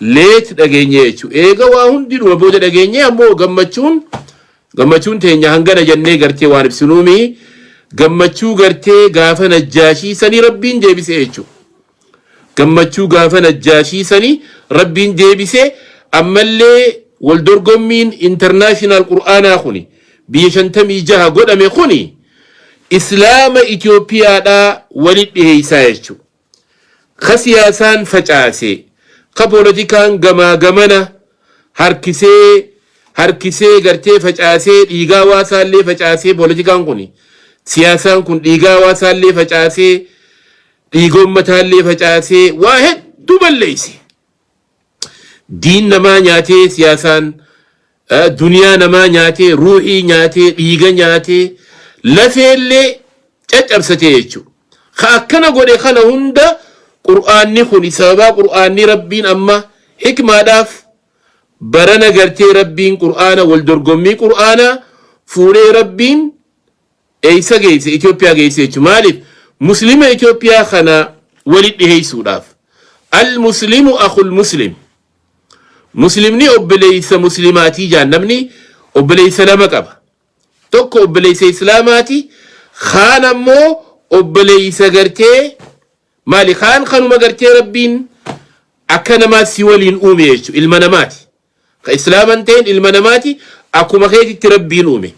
late dhageenye jechu eega waa hundinuma booda dhageenye ammoo gammachuun gammachuun teenya hangana jannee gartee waan ibsinuu mii gammachuu gartee gaafa najjaashii sanii rabbiin deebise jechu gammachuu gaafa najjaashii sanii rabbiin deebise ammallee wal dorgommiin international qur'aanaa kuni biyya shantamii jaha godhame kuni islaama Itoophiyaadhaa wali dhiheessaa jechu Ka siyaasaan facaase, ka polotikaan gamaa gamana harkisee harkisee gartee facaasee dhiigaa hawaasaallee facaasee polotikaan kuni siyaasaan kun dhiigaa hawaasaallee facaasee dhiiga ummataallee facaasee waa hedduu balleeyse. Diin namaa nyaatee siyaasaan duniyaa namaa nyaatee ruuhii nyaatee dhiiga nyaatee lafeellee caccabsatee jechuudha. Ka akkana godhe kana hunda qur'aanni kuni sababaa qur'aanni rabbiin amma hikmaadhaaf barana gartee rabbiin qur'aana wal dorgommii qur'aanaa fuudhee rabbiin Eessa geesse? Itoophiyaa geesse jechuudha. Maaliif? Muslima Itoophiyaa kana walitti dhiheessuudhaaf. Al-Muslimu akhul Muslim. Muslimni obboleessa Muslimaatii jaan namni obboleessa lama qaba. Tokko obboleessa Islaamaati, kaan ammoo obboleessa gartee maali kaan kanuma gartee Rabbiin akka namaa si waliin uume jechuudha. Ilma namaati. Ka islaama hin ta'in ilma namaati akkuma keetitti rabbiin uume.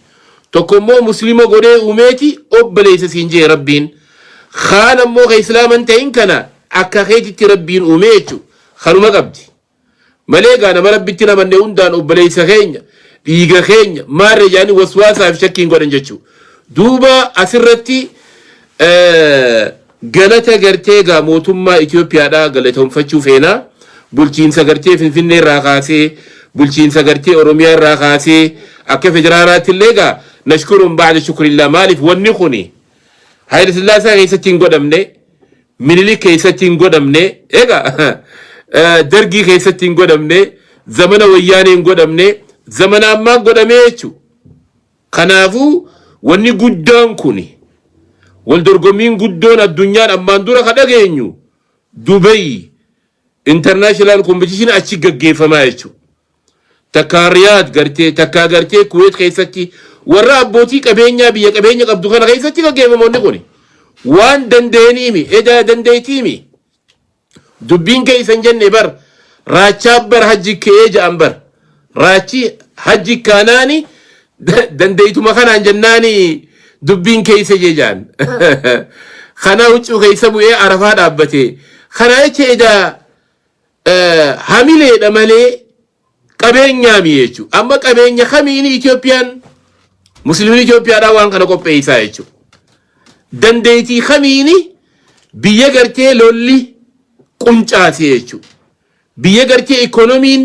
Tokko immoo muslima godhee uumeeti obboleessa siin jee rabbiin. Kaan ammoo ka islaama hin ta'in kana akka keetitti rabbiin uume jechu kanuma qabdi. Malee egaa nama rabbitti hin amanne hundaan obboleessa keenya dhiiga keenya maarre jaanii waswaasaaf shakkiin godhan jechu. Duuba asirratti eh, Galata gartee egaa mootummaa Itoophiyaadhaa galatomfachuu feena. Bulchiinsa gartee Finfinnee irraa kaasee, bulchiinsa gartee Oromiyaa irraa kaasee akka federaalaatti illee egaa nashkuruun ba'da shukrillaa maaliif wanni kuni Hayila Sillaasaa keessatti hin godhamne, Minilik keessatti hin godhamne, egaa Dargii keessatti hin godhamne, zamana Wayyaanee hin godhamne, zamana ammaa godhamee jechuudha. Kanaafuu wanni guddaan kuni, wal dorgommiin guddoon addunyaan ammaan dura ka dhageenyu Dubai international competition achi gaggeeffamaa jechuu. Takkaa Riyadh gartee, takkaa gartee Kuwait keessatti warra abbootii qabeenyaa biyya qabeenya qabdu kana keessatti gaggeeffama wanni kuni. Waan danda'aniimi, edaa dandeettiimi. Dubbiin kee isan jenne bar raachaa bar hajji ke'ee ja'an bar raachi hajji kaanaani da- dandeeytuma kanaan jennaani dubbiin keeysa jee ja'an kanaa huccuu keeysa bu'ee arafaa dhaabbatee kanaa jecha edaa eh, hamileedha malee Qabeenyaa mii jechuu amma qabeenya kami ini Itoophiyaan muslimin Itoophiyaadhaa waan kana qopheessaa jechuu dandeetii kami ini biyya gartee lolli quncaasee jechuu biyya gartee ikoonomiin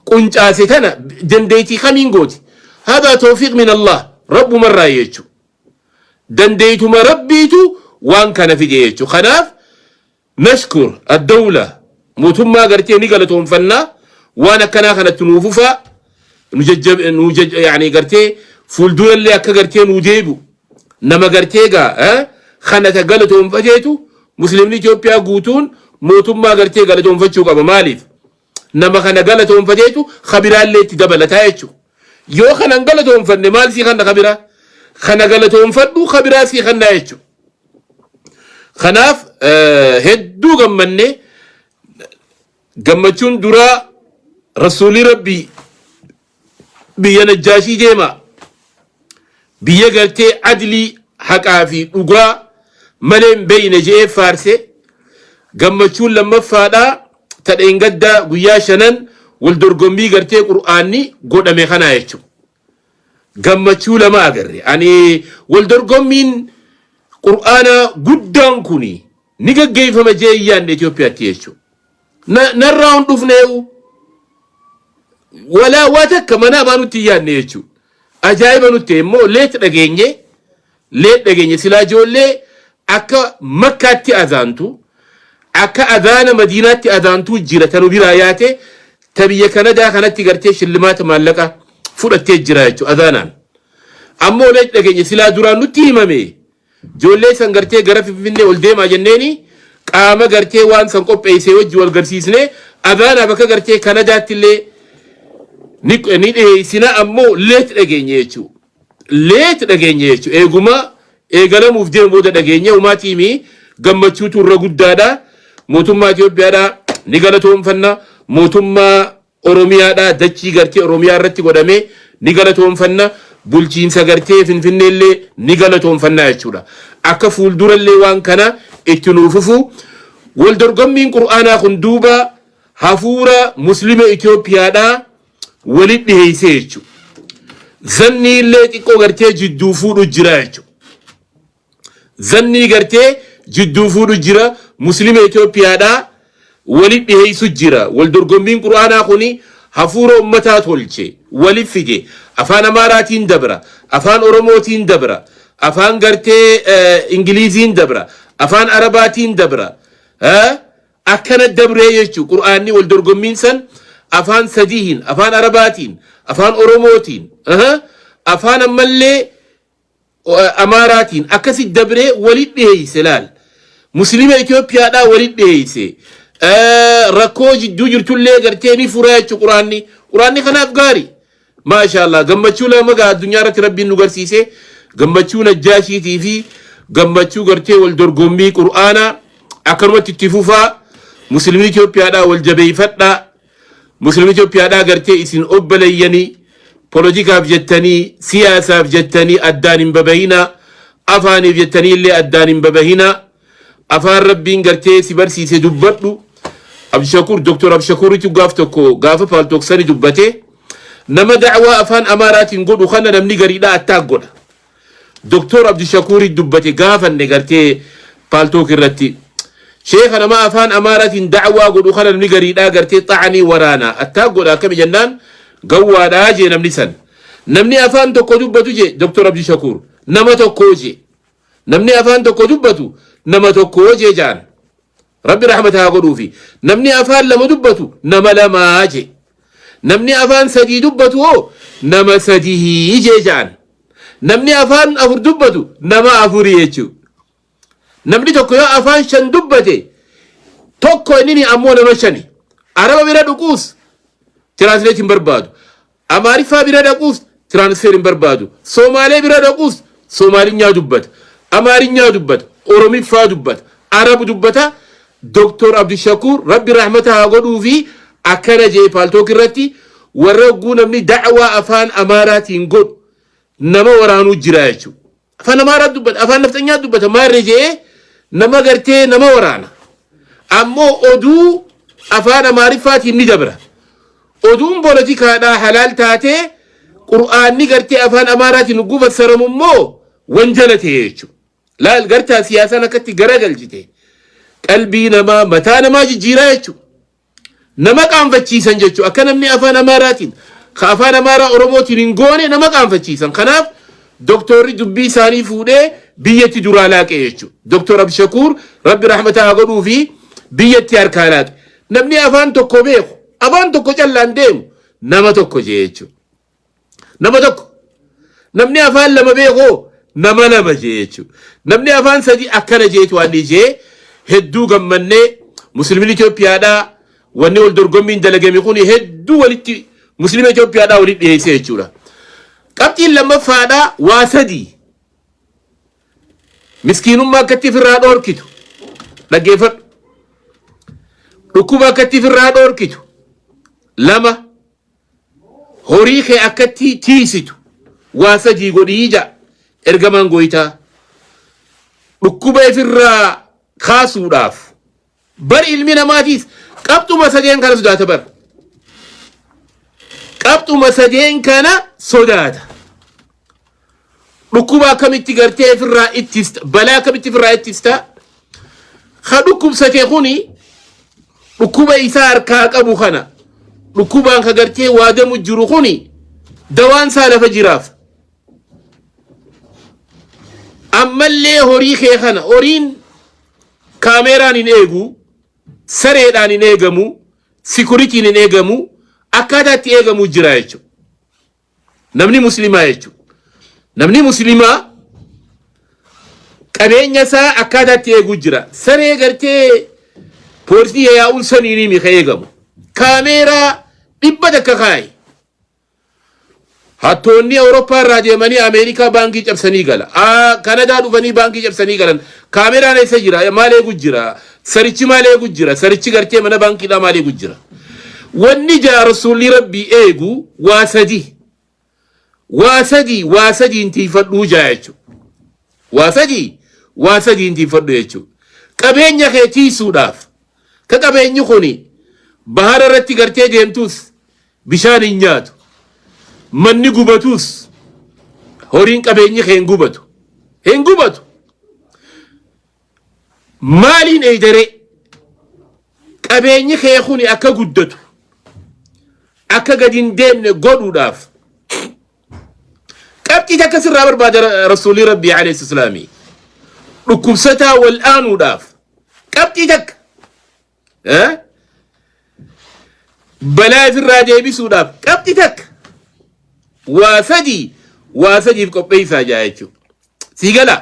quncaase tana dandeetii kamiin gooti hadaa toofiq min Allah rabbumarraa jechuu dandeetuma rabbiitu waan kana fide jechuu kanaaf Nashkur Addowla Mootummaa Gartee ni galatoomfanna waan akkanaa kanatti nuu fufaa nu jajjab nu jaj yaani gartee fuuldurallee akka gartee nuu deebi'u nama gartee gaa eh, kana ka galatoomfateetu muslimni Itoophiyaa guutuun mootummaa gartee galatoomfachuu qaba maaliif Nama kana galatoonfateetu ka biraallee itti dabalata jechu. Yoo kana hin galatoonfanne maal sii kanna ka biraa? Kana galatoonfadhu ka biraa sii kanna jechu. Kanaaf eh, hedduu gammanne gammachuun duraa rasuulii rabbii Biyya Najjaashii deemaa. Biyya gartee adlii haqaa fi dhugaa malee hin beeyne je'ee faarse. Gammachuun lammaffaadhaa ta dheengaddaa guyyaa shanan wal dorgommii gartee qur'aanni godhame kanaa jechuudha. Gammachuu lama agarre. Ani wal dorgommiin qur'aanaa guddaan kuni ni gaggeeffama je'ee hin yaadne Itoophiyaatti jechuudha. Na, narraa hin dhufnee'u. Walaa waa takka mana amaa nutti hin yaadne jechuudha. Ajaa'iba nutti ta'e immoo leet dhageenye, leet dhageenye silaa ijoollee akka makkaatti azaantu, akka azaana madiinaatti azaantuu jira tanu biraa yaate ta biyya kanadaa kanatti gartee shillimaata maallaqa fudhattee jira jechuudha azaanaan. Ammoo leet dhageenye silaa duraan nutti himame Ijoollee san gartee gara Finfinnee ol deemaa jenneeni qaama gartee waan san qopheessee wajji wal garsiisnee Adaanaa bakka gartee Kanadaatti illee ni ni dhiheessina ammoo leet dhageenye jechuu leet dhageenye jechuu eeguma eegalamuuf deemu booda dhageenye umaa tiimii gammachuutu irra guddaadha mootummaa Itoophiyaadha ni galatoomfanna mootummaa Oromiyaadhaa dachii gartee Oromiyaa irratti godhame ni galatoomfanna, bulchiinsa gartee Finfinnee illee ni galatoomfanna jechuudha. Akka fuuldura illee waan kana itti nuu fufu. Wal dorgommiin Qur'aanaa kun duuba hafuura Muslima Itoophiyaadhaa walitti dhiheessee jechuudha. Zannii illee xiqqoo gartee jidduu fuudhu jira jechuudha. Zannii gartee jidduu fuudhu jira muslima Ethiopiadhaa wali dhiheysu jira wal dorgommiin qur'aanaa kuni hafuura ummataa tolche wali fide afaan amaaraatiin dabra afaan oromootiin dabra afaan gartee ingiliiziin dabra afaan arabaatiin dabra akkana dabree jechu qur'aanni wal dorgommiin san afaan sadihin afaan arabaatiin afaan oromootiin afaan ammallee Amaaraatiin akkasi dabree walit dhiheeyse laal. Muslima Itoophiyaadhaa walit dhiheeyse. Rakkoo jidduu jirtullee gartee ni fura jechu quraanni. Quraanni kanaaf gaari. Maashaallah gammachuu lama gaa addunyaa irratti rabbiin nu garsiise. Gammachuu najjaashiitii fi gammachuu gartee wal dorgommii quraanaa akkanumatti itti fufaa. Muslimni Itoophiyaadhaa wal jabeeyfadhaa. Muslim Ethiopia dhaa gartee isin obbaleyyanii polotikaaf jettanii siyaasaaf jettanii addaan hin babahinaa afaaniif jettanii illee addaan hin babahinaa afaan rabbiin gartee si barsiise dubbadhu Abdushakur Dr. Abdushakuuritu gaaf tokko gaafa paaltooksani dubbate nama da'waa afaan amaaraatiin godhu kana namni gariidhaa attaak godha Doktoor Abdushakuurii dubbate gaafanne gartee paaltook irratti. Sheeka nama afaan Amaaraatiin da'awaa godhu kana namni gariidhaa gartee xa'anii waraanaa attaak godha akkami jennaan gawwaadhaa jee namni san. Namni afaan tokko dubbatu jee Doktoor Abdushakuur nama tokkoo jee. Namni afaan tokko dubbatu nama tokkoo jee jaan. Rabbi rahmata haa godhuufi. Namni afaan lama dubbatu nama lamaa jee. Namni afaan sadii dubbatu hoo nama sadihii jee ja'an. Namni afaan afur dubbatu nama afurii jechuu. Namni tokko yoo afaan shan dubbate tokko inni ammoo nama shani. Araba bira dhuquus tiraansleetiin barbaadu. Amaariffaa bira dhaquus transfer hin barbaadu. Soomaalee bira dhaquus Soomaalinyaa dubbata. Amaarinyaa dubbata. Oromiffaa dubbata. Arab dubbata. Doktor Abdushakuur Rabbi rahmata haa godhuufi akkana jee paaltook irratti warra hogguu namni da'waa afaan Amaaraatiin godhu nama waraanuu jira jechuudha. Afaan Amaaraa dubbata, afaan nafxanyaa dubbata maarree je'ee nama gartee nama waraana. Ammoo oduu afaan Amaariffaatiin ni dabra. Oduun poolotikaadhaa halaal taatee Qur'aanni gartee afaan Amaaraatiin hogguu fassaramu immoo wanjala ta'e jechuudha. Laal gartaa siyaasaan akkatti garagalchite qalbii namaa mataa namaa jijjiiraa jechuudha. Nama qaanfachiisan jechuun akka namni afaan Amaaraatiin ka afaan Amaaraa Oromootiin hin goone nama qaanfachiisan. Kanaaf doktorri dubbii isaanii fuudhee biyyatti duraa laaqe jechuudha. Doktor Abshakuur rabbi rahmataa haa godhuu fi biyyatti harkaa laaqe. Namni afaan tokko beeku afaan tokko callaan deemu nama tokko jee jechuudha. Nama tokko. Namni afaan lama beekoo nama lama jee jechuudha. Namni afaan sadii akkana jeetu waan jee hedduu gammannee musliimni Itoophiyaadhaa wanni wal dorgommiin dalagame kun hedduu walitti musliima Itoophiyaadhaa walitti dhiyeessee jechuudha. Qabxiin lammaffaadhaa waa sadii miskiinummaa akkatti ofirraa dhoorkitu dhaggeeffadhu. Dhukkuba akkatti ofirraa dhoorkitu lama. Horii kee akkatti tiiysitu waa sadii godhii ja'a ergamaan gooytaa. Dhukkuba ifirraa kaasuudhaaf. Bar ilmi namaatiis qabxuma sadeen kana sodaata bar. Qabxuma sadeen kana sodaata. Dhukkuba akkamitti gartee ofirraa ittifta? Balaa akkamitti ofirraa ittifta? Ka dhukkubsate kuni dhukkuba isaa harkaa qabu kana dhukkubaan ka gartee waadamu jiru kuni dawaan isaa lafa jiraaf. Ammallee horii kee kana horiin kaameeraan hin eegu, sareedhaan hin eegamu, sikuritiin hin eegamu, akkaataa itti eegamu jira jechuudha. Namni muslimaa jechuun namni muslimaa qabeenya isaa akkaataatti eeguu jira. Saree gartee poolisii yaa'uun saniinii mika eegamu. Kaameeraa dhibba takka kaayi. Hattoonni Awurooppaa irraa deemanii Ameerikaa baankii cabsanii gala. Aa, Kanadaa dhufanii baankii cabsanii galan. Kaameraan eessa jira? Maal eegu jira? Sarichi maal eegu jira? Sarichi gartee mana baankiidhaa maal eegu jira? Wanni jaa rasuulli rabbii eegu waa sadi. Waa sadi waa sadiin tiifadhuu jaa jechuudha. Waa sadi waa sadiin tiifadhu jechuudha. Qabeenya kee tiisuudhaaf ka qabeenyi kuni bahara irratti gartee deemtuus bishaan hin nyaatu. Manni gubatuus horiin qabeenyi kee hin gubatu. Hin gubatu. Maaliin eeydaree qabeenyi kee kuni akka guddatu akka gad hin deemne godhuudhaaf qabxii takka sirraa barbaada Ra- rasuulii rabbii alayhi islaamii dhukkubsataa wal aanuudhaaf qabxii takka eh? balaa ifirraa deebisuudhaaf qabxii takka waa sadii waa sadiif qopheessaa jaa jechuudha sii galaa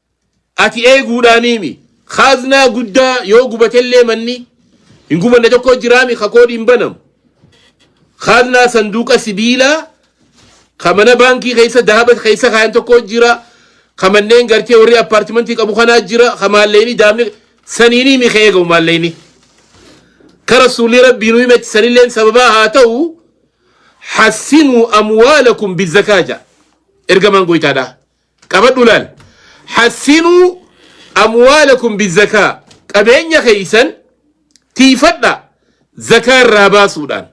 Ati eeguudhaaniimi. Kaaznaa guddaa yoo gubatellee manni hin gubanne tokko jiraami ka koodiin banamu. Kaaznaa sanduuqa sibiilaa ka mana baankii keessa dahaba keessa kaayan tokko jira. Ka manneen gartee warri appaartimantii qabu kanaa jira. Ka maalleyni daamni saniiniimi ka eegamu maalleyni. Ka rasuulli rabbii nu himetti sanilleen sababaa haa ta'u hassinuu amwaalakum bizakaa ja'a. Ergamaan goytaadhaa. Qabadhu laal. Hassinuu amwaalakum bizakaa. Qabeenya keessan tiifadha zakaa irraa baasuudhaan.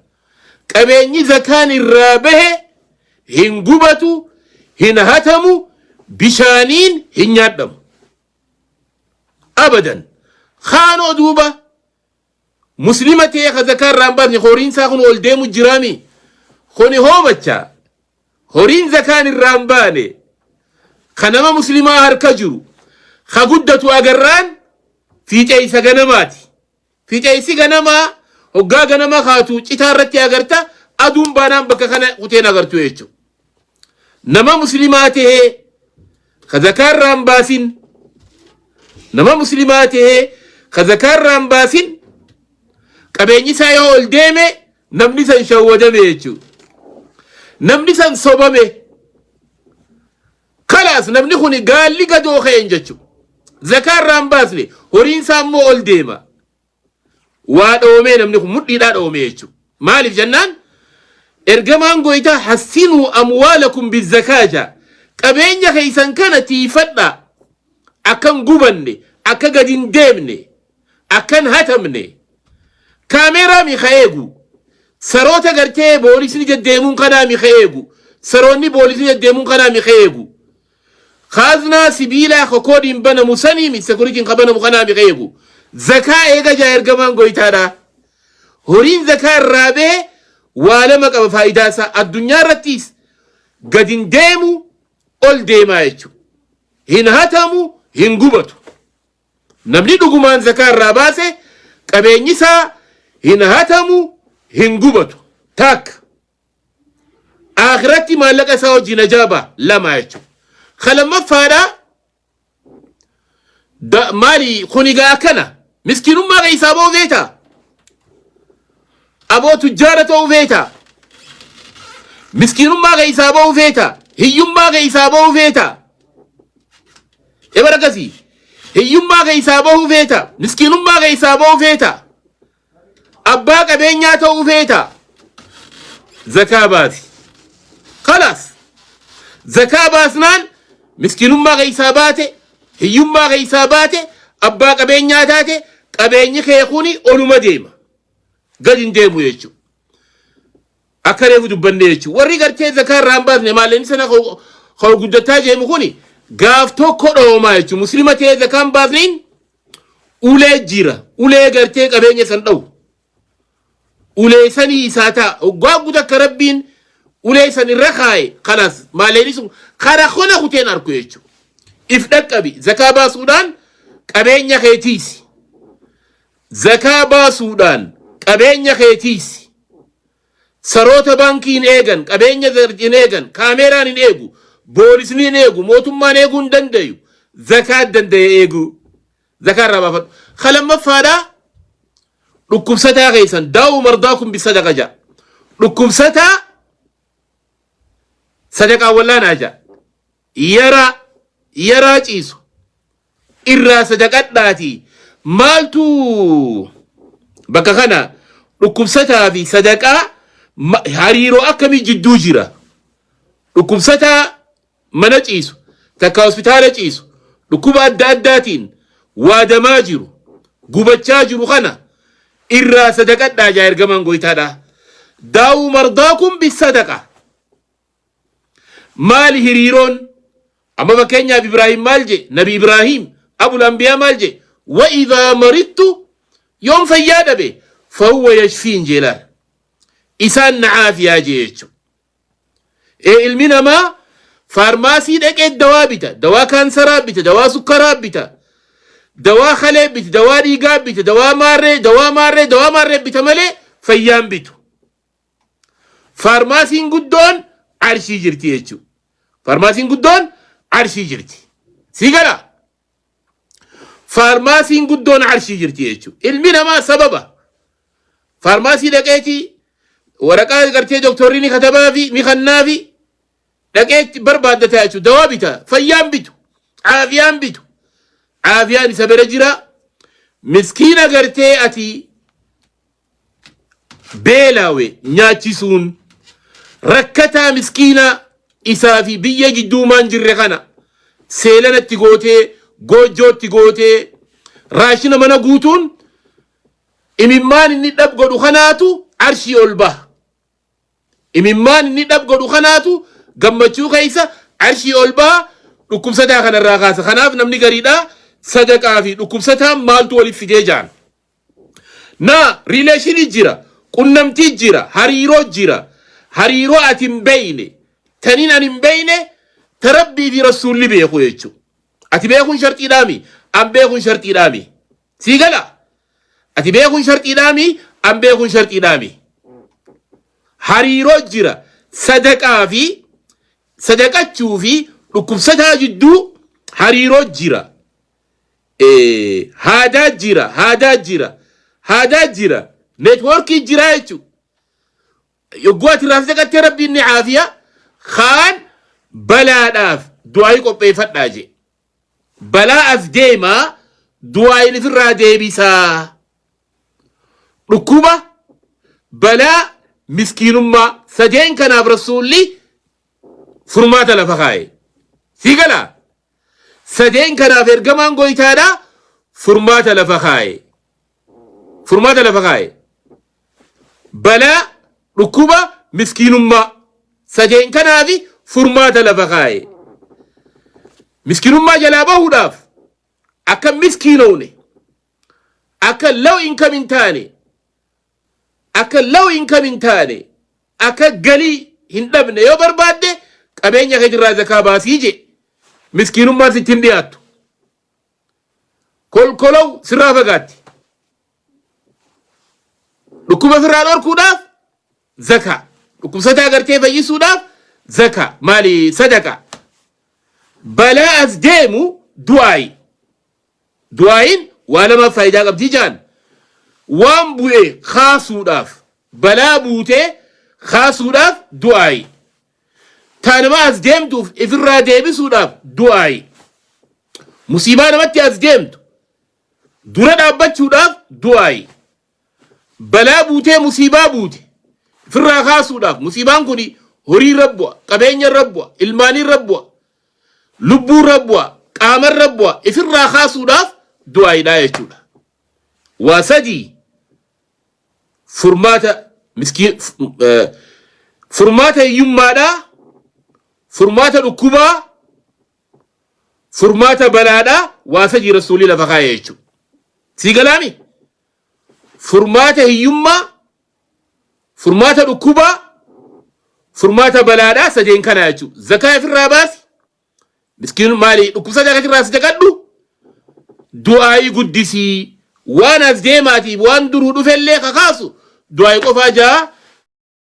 Qabeenyi zakaan irraa bahe hin gubatu, hin hatamu, bishaaniin hin nyaadhamu. Abadan. Kaanoo duuba Muslima ta'ee ka zakaa irraa hin baasne horiin isaa kun ol deemu jiraami. Kuni hoomacha. Horiin zakaan irraa hin baane ka nama muslimaa harka jiru ka guddatu agarraan fiixeessa ganamaati. Fiixeessi ganamaa hoggaa ganama kaatu citaa irratti agarta aduun baanaan bakka kana kuteen agartu jechuudha. nama muslimaa tahee ka zakaa irraa hin baasin nama muslimaa tahee ka zakaa irraa hin baasin qabeenyi isaa yoo ol deeme namni san shawwadame jechuudha. Namni san sobame kalaas namni kun gaalli gadoo ka'een jechuudha. Zakaa irraa hin baasne horiin isaa immoo ol deema. waa dhoomee namni kun mudhiidhaa dhoomee jechuudha. Maaliif jennaan ergamaan gooytaa hassinuu amwaalakum bizakaa jaa qabeenya keessan kana tiifadhaa akkan gubanne akka gadi hin deemne akkan hatamne kaameeraa mi ka eegu saroota gartee boolisni deddeemuun kanaa mi ka eegu saroonni boolisni deddeemuun kanaa mi ka eegu Kaaznaa sibiilaa ka koodiin banamu saniimi, security'n ka banamu kanaami ka eegu. Zakaa eega ja'a ergamaan goytaadhaa. Horiin zakaa irraa bahe waa lama qaba faayidaa isaa. Addunyaa irrattiis gad hin deemu ol deemaa jechu. Hin hatamu hin gubatu. Namni dhugumaan zakaa irraa baase qabeenyi isaa hin hatamu hin gubatu. Taakka. Aakhiratti maallaqa isaa hojii najaa baha lama jechuudha. Ka lammaffaadha da- maali kuni gaa akkana miskiinummaa keessaa ba'uu feeta aboo tujjaara ta'uu feeta miskiinummaa keessaa ba'uu feeta hiyyummaa keessaa ba'uu feeta ebar akkasii hiyyummaa keessaa ba'uu feeta miskiinummaa keessaa ba'uu feeta Abbaa qabeenyaa ta'uu feetaa? Zakaa baasi. Kalaas. Zakaa baasnaan miskinummaa keessaa baate, hiyyummaa keessaa baate, abbaa qabeenyaa taate, qabeenyi kee kuni oluma deema. Gad hin deemu jechuudha. Akka reefu dubbanne jechuudha. Warri gartee zakaa irraa hin baasne maalleenni sana kan guddataa jeemu kuni gaaf tokko dhoomaa jechuudha. Muslima ta'ee zakaa hin baasneen ulee jira. Ulee gartee qabeenya san dha'u. Ulee sanii isaa ta'a. Oggaa guutuu akka rabbiin ulee san irra kaa'e kalaas maalleenni sun kara kona kuteen arku jechuudha. If dhaqqabi zakaa baasuudhaan qabeenya kee tiisi. Zakaa baasuudhaan qabeenya kee tiiksi. Saroota baankii hin eegan, qabeenya hin eegan, kaameeraan hin eegu, boolisni hin eegu, mootummaan eeguu hin dandayu. Zakaa danda'e eeguu. Zakaa irraa baafadhu. Ka lammaffaadhaa dhukkubsataa keessan daa'u mardaakum bisadaqa ja'a. Dhukkubsataa sadaqaa wallaanaa ja'a. Yaraa yaraa ciisu irraa sadaqadhaatii maaltu bakka kana dhukkubsataa fi sadaqaa ma- hariiroo akkamii jidduu jira? Dhukkubsataa mana ciisu takka hospitaala ciisu dhukkuba adda addaatiin waadamaa jiru gubachaa jiru kana irraa sadaqadhaa jaa ergamaan gooytaadhaa. Daa'uu mardaakum bisadaqa. Maali hiriiroon? Amma fakkeenyaaf Ibraahim maal jee? Nabi Ibraahim abul anbiyaa maal jee? Wa idhaa marittu yoon fayyaa dhabe fahuwa yashfiin jee laal. Isaan na caafiyaa jee jechuudha. Ee ilmi namaa faarmaasii dhaqee dawaa bita, dawaa kaansaraa bita, dawaa sukkaraa bita, dawaa kalee bita, dawaa dhiigaa bita, dawaa maarree, dawaa maarree, dawaa maarree bita malee fayyaan bitu. Faarmaasiin guddoon arshii jirti jechuudha. Faarmaasiin guddoon arshii jirti. Sii gala? Faarmaasiin guddoon arshii jirti jechuudha. Ilmi namaa sababa faarmaasii dhaqeeti waraqaa gartee doktorri ni katabaa fi ni kannaa fi dhaqeetti barbaaddataa jechuudha. Dawaa bitaa, fayyaan bitu, caafiyaan bitu. Caafiyaan isa bira jira. Miskiina gartee ati beelaawe nyaachisuun rakkataa miskiinaa isaa fi biyya jidduumaan jirre kana seelanatti gootee goojjootti gootee raashina mana guutuun imimmaan inni dhab godhu kanaatu arshii ol baha. Imimmaan inni dhab godhu kanaatu gammachuu keessa arshii ol baha dhukkubsataa kanarraa kaasa. Kanaaf namni gariidhaa sadaqaa fi dhukkubsataan maaltu waliif fidee jaan. Naa relation jira qunnamtii jira hariiroo jira hariiroo ati hin beeyne tanin an hin beeyne ta rabbii fi rassuulli beeku jechu ati beekun sharxiidhaami an beekun sharxiidhaami sii gala ati beekun sharxiidhaami an beekun sharxiidhaami hariiroo jira sadaqaa fi sadaqachuu fi dhukkubsataa jidduu hariiroo jira haadaa jira haadaa jira haadaa jira networkii jira jechu yogguu ati irraa saqattee rabbiin ni caafiya kaan balaadhaaf du'aayii qopheeffadhaa jee balaa as deemaa du'aayiin ifirraa deebisaa dhukkuba balaa miskiinummaa sadeen kanaaf rasuulli furmaata lafa kaa'e sii galaa Sadeen kanaaf ergamaan goytaadhaa furmaata lafa kaaye. Furmaata lafa kaaye. Balaa, dhukkuba, miskiinummaa. Sadeen kanaaf furmaata lafa kaaye. Miskiinummaa jalaa bahuudhaaf akka miskiinoone, akka low income hin taane, akka low income hin taane akka galii hin dhabne yoo barbaadde qabeenya kee irraa zakaa baasii jee miskiinummaan sitti hin dhiyaattu kolkolow sirraa fagaatti dhukkuba sirraa dhorkuudhaaf zakaa dhukkubsataa gartee fayyisuudhaaf zakaa maali sadaqaa balaa as deemu du'aayi Du'aa'iin waa lamaaf faayidaa qabdi ja'an. Waan bu'e kaasuudhaaf, balaa buutee kaasuudhaaf du'aa'i. Ta nama as deemtuuf ifirraa deebisuudhaaf du'aa'i. Musiibaa namatti as deemtu dura dhaabbachuudhaaf du'aa'i. Balaa buutee musiibaa buute ifirraa kaasuudhaaf musiibaan kun horii irra bu'a, qabeenya irra bu'a, ilmaan irra bu'a, lubbuu irra bu'a, qaama irra bu'a ifirraa kaasuudhaaf du'aayiidhaa jechuudha. Waa sadii furmaata miskiin furmaata hiyyummaadhaa, furmaata dhukkubaa, furmaata balaadhaa waa sadii rasuulii lafa kaa'e jechuudha. Sii galaami? furmaata hiyyummaa, furmaata dhukkubaa, furmaata balaadhaa sadeen kanaa jechuudha. Zakaa ifirraa baasi, miskiin maali dhukkubsataa kan irraa sadaqadhu, du'aayii guddisii, waan as deemaatiif waan duruu dhufellee kakaasu du'aayii qofaa jaa